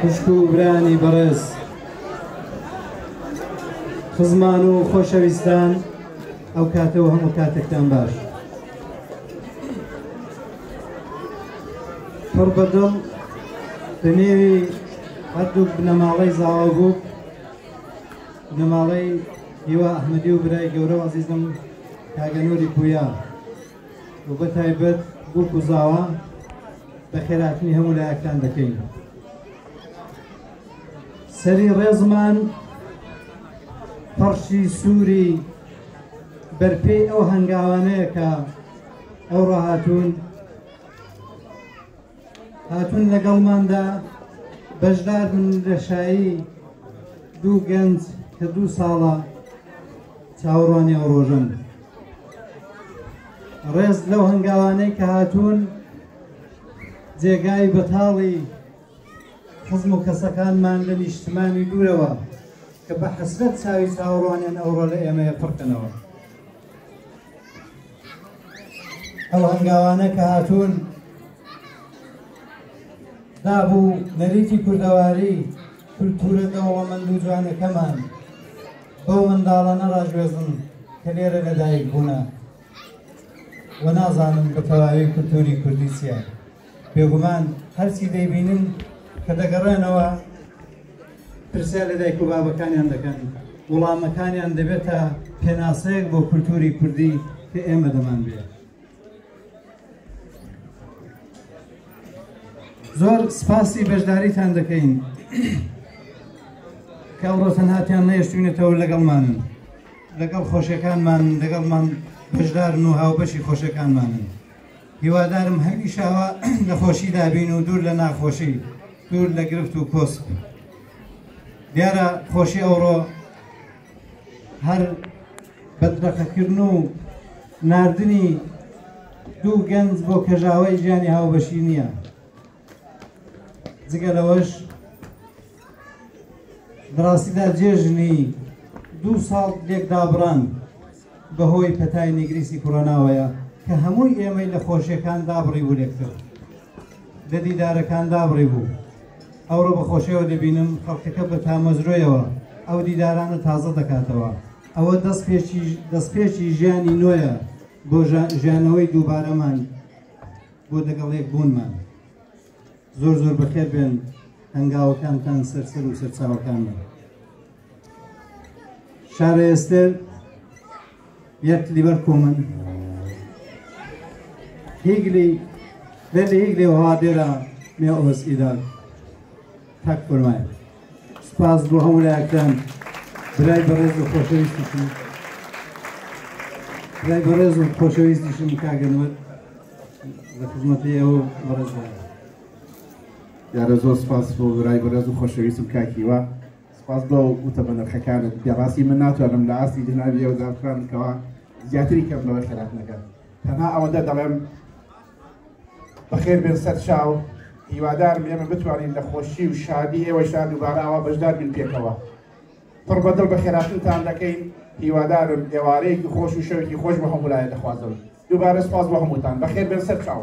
خوشک و برایانی بەڕێز خزمان و خۆشەویستان ئەو کاتەوە هەموو کاتێکتان باش پڕ بەدڵ بە نێوی هەردوو بنەماڵەی زاوا بوو بنەماڵەی هیوا ئەحمەدی و برای گەورە و عزیزم کاگەنووری پویا و بە تایبەت بۆ کوزاوە بە خێراتنی هەموو لایەکتان دەکەین سەری ڕێزمان پەڕشی سووری بەرپێی ئەو هەنگاوانەیە کە ئەو ڕاهاتون هاتون لەگەڵماندا بەشدار من لەشایی دوو گەنج کە دوو ساڵە چاوەڕوانی ئەو ڕۆژن ڕێز لەو هەنگاوانەی کە هاتوون جێگای بەتاڵی خزم و کەسەکانمان لە نیشتمانی دوورەوە کە بە حەسرەت چاوی چاوەڕوانیان ئەوڕۆ لە ئێمەیە پڕکەنەوە ئەو هەنگاوانە کە هاتوون دابوو نەریتی کوردەواری کولتورە دەوڵەمەند و جوانەکەمان بەو منداڵانە ڕاگوێزن کە لێرە لەدایک بوونە و نازانن بە تەواوی کولتووری کوردی چییە بێگومان هەرچی دەیبینن کە دەگەڕێنەوە پرسیار لە دایک و بابەکانیان دەکەن وڵامەکانیان دەبێتە پێناسەیەک بۆ کولتووری کوردی کە ئێمە دەمان بێت زۆر سپاسی بەشداریتان دەکەین کە ئەوڕۆ تەنهاتیان نەیشتوینەتەوە لەگەڵمان لەگەڵ خۆشەکانمان لەگەڵمان بەشدارن و هاوبەشی خۆشەکانمانن هیوادارم هەمیشاوە لە خۆشی دابین و دوور لە ناخۆشی دوور لە گرفت و کۆست دیارە خۆشی ئەوڕۆ هەر بەدبەخەکردن و ناردنی دوو گەنج بۆ کەژاوەی ژیانی هاوبەشی نییە جگە لەوەش دراستیدا جێژنی دوو ساڵ لێکدابڕان بەهۆی پەتای نگریسی کۆرۆناوەیە کە هەمووی ئێمەی لە خۆشیەکان دابڕی بوو لێکتر لە دیدارەکان دابڕی بوو ئەوڕۆ بە خۆشیەوە دەبینم خەڵکەکە بە تامەزرۆیەوە ئەو دیدارانە تازە دەکاتەوە ئەوە دەست پێچی دەست پێچی ژیانی نوۆیە بۆ ژیانەوەی دووبارەمان بۆ دەگەڵ یەک بوونمان زۆر زۆر بەخێر بێن هەنگاوەکانتان سەرسەر و سەرچاوەکان شارە ئێستر یەک لیبەر کۆمن هیگلی بێت هیگلی وها دێرە مێ ئۆس ئیدار تاک فەرمایە سپاس بۆ هەموو لایەکان برای بەڕێز و خۆشەویستیشم برای بەڕێز و خۆشەویستیشم کاگەنوەت دیارە زۆر سپاس بۆ برای بەڕێز و خۆشەویستم کاک هیوا سپاس بۆ وتە بە نرخەکانت پێ ڕاستی من ناتوانم لە ئاستی جنابی ئەو زانفران بکەوە زیاتری کەم لەوە خێرات نەکەن تەنها ئەوەندە دەڵێم بەخێر بێن سەر چاو هیوادارم ئێمە بتوانین لە خۆشی و شادی ئێوە شاد دووبارە ئەوە بەشدار بین پێکەوە پڕ بەدڵ بە خێراتنتان دەکەین هیوادارم ئێوارەیەکی خۆش و شەوێکی خۆش بە هەمولایە دەخوازم دووبارە سوپاس بۆ هەمووتان. بەخێربێن سەرچاو.